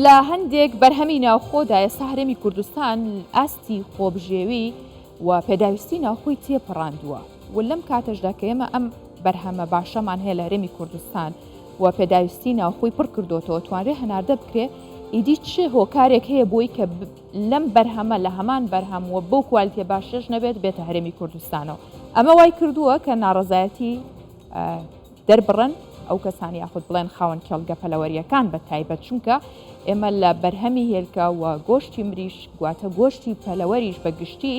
لە هەندێک بەرهەمی ناوخۆدا ئێستا هەرێمی کوردستان ئاستی خۆبژێوی و پێداویستی ناوخۆی تێپەڕاندووە و لەم کاتەشدا کە ئێمە ئەم بەرهەمە باشەمان هەیە لە هەرێمی کوردستان و پێداویستی ناوخۆی پڕ کردوتەوە توانرێ هەناردە بکرێ ئیدی چ هۆکارێک هەیە بۆی کە لەم بەرهەمە لە هەمان بەرهەم و بەو کوالتیە باشێش نەبێت بێتە هەرێمی کوردستانەوە ئەمە وای کردووە کە ناڕزایەتی دەربڕن ئەو کەسان یاخود بڵێن خاوەن کێڵگە پەلەوەرییەکان بە تایبەت، چونکە ئێمە لە بەرهەمی هێلکە و گۆشتی مریشک گواتە گۆشتی پەلەوەریش بە گشتی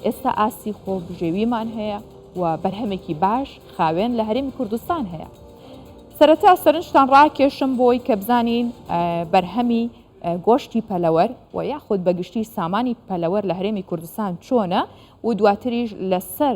ئێستا ئاستی خۆبژێویمان هەیە و بەرهەمێکی باش خاوێن لە هەرێمی کوردستان هەیە. سەرەتا سەرنجتان ڕاکێشم بۆی کە بزانین بەرهەمی گۆشتی پەلەوەر و یاخود بەگشتی سامانی پەلەوەر لە هەرێمی کوردستان چۆنە و دواتریش لەسەر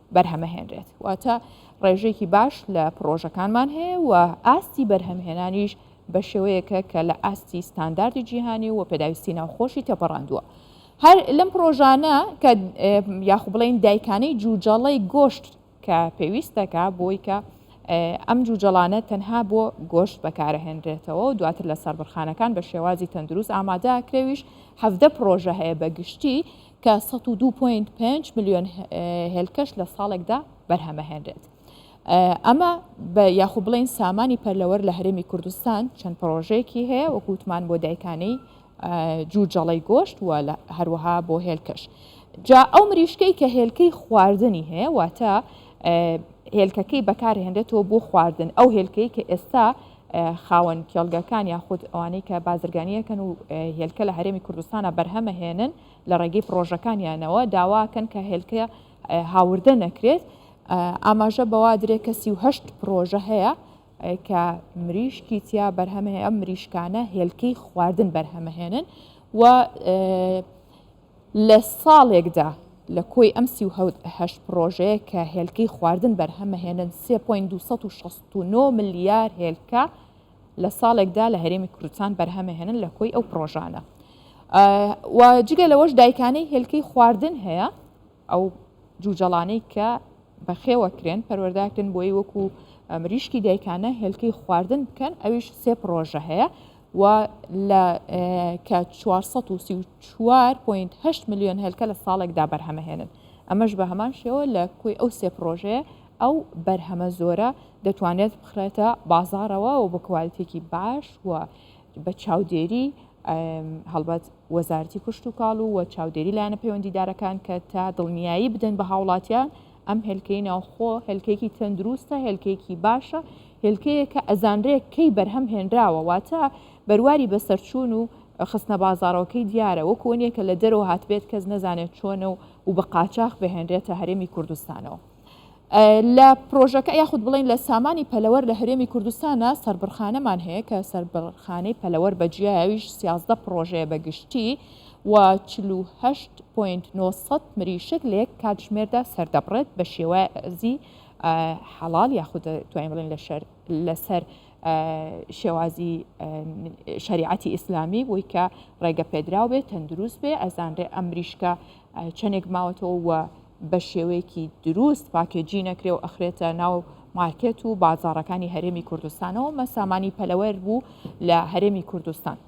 بەرهەمەهێنرێت واتە ڕێژەیەکی باش لە پرۆژەکانمان هەیە و ئاستی بەرهەمهێنانیش بە شێوەیەکە کە لە ئاستی ستانداردی جیهانی و پێداویستی ناوخۆشی تێپەڕاندووە هەر لەم پرۆژانە کە یاخو بڵین دایکانەی جوجەڵەی گۆشت کە پێویست دەکا بۆی کە ئەم جوجەڵانە تەنها بۆ گۆشت بەکارەهێنرێتەوە و دواتر لە سەربڕخانەکان بە شێوازی تەندروست ئامادەکرێویش هەفتدە پرۆژە هەیە بە گشتی کە سەد و دوو پۆینت پێنج ملیۆن هێلکەش لە ساڵێکدا بەرهەمەهێنرێت. ئەمە بە یاخو بڵین سامانی پەرلەوەر لە هەرێمی کوردستان چەند پرۆژەیەکی هەیە وە گوتمان بۆ دایکانەی جوو جەڵەی گۆشت و لە هەروەها بۆ هێلکەش. جا ئەو مریشکەی کە هێلکەی خواردنی هەیە واتە هێلکەکەی بەکارهێنرێتەوە بۆ خواردن ئەو هێلکەی کە ئێستا خاوەن کێڵگەکان یاخود ئەوانەی کە بازرگانی ئەکەن و هێلکە لە هەرێمی کوردستانە بەرهەمەهێنن لە ڕێگەی پرۆژەکانیانەوە داواکەن کە هێلکە هاوردە نەکرێت ئاماژە بەوا درێ کە سیهشت پرۆژە هەیە کە مریشکی تیا بەرهەمەیە ئەم مریشکانە هێلکەی خواردن بەرهەمەهێنن و لە ساڵێکدا لە کۆی ئەم سی و هەشت پڕۆژەیە کە هێلکەی خواردن بەرهەمەهێنن سێ پۆینت دوو سەد و شەست و نۆ ملیار هێلکە لە ساڵێکدا لە هەرێمی کوردستان بەرهەمەهێنن لە کۆی ئەو پڕۆژانە و جگە لەوەش دایکانەی هێلکەی خواردن هەیە ئەو جوجەڵانەی کە بەخێوە کرێن پەروەردە کرێن بۆی وەکو مریشکی دایکانە هێلکەی خواردن بکەن ئەویش سێ پرۆژە هەیە و لە کە 434.8 میلیۆن هێلکە لە ساڵێکدا بەرهەمەهێنن ئەمەش بە هەمان شێوە لە کوی ئەو سێ پرۆژەیە ئەو بەرهەمە زۆرە دەتوانێت بخرێتە بازارەوە و بە کوالتێکی باش و بە چاودێریی هەڵبەت وەزارەتی کشتوکاڵ و وە چاودێری لایەنە پەیوەندیدارەکان کە تا دڵنیایی بدەن بە هاوڵاتیان ئەم هێلکەی ناوخۆ هێلکەیەکی تەندروستە هێلکەیەکی باشە هێلکەیە کە ئەزانرێت کەی بەرهەم هێنراوە واتە بەرواری بەسەرچوون و خستنە بازارەوەکەی دیارە وەکو نییە کە لە دەرەوە هاتبێت کەس نەزانێت چۆنە و و بە قاچاخ بهێنرێتە هەرێمی کوردستانەوە. لە پرۆژەکە یاخود بڵێین لە سامانی پەلەوەر لە هەرێمی کوردستانە سەربڕخانەمان هەیە کە سەربڕخانەی پەلەوەر بە جیایەویش سیازدە پرۆژەیە بە گشتی و 48.900 مریشک لە یەک کاتژمێردا سەردەبڕێت بە شێوازی حەڵال یاخود توانین بڵێن لەشەر لەسەر شێوازی شریعەتی ئیسلامی بۆی کە ڕێگە پێدراو بێت تەندروست بێ ئەزانرێ ئەمریشکە چەندێک ماوەتەوە و بە شێوەیەکی دروست پاکێجی نەکرێ و ئەخرێتە ناو مارکێت و بازاڕەکانی هەرێمی کوردستانەوە مە سامانی پەلەوەر بوو لە هەرێمی کوردستان.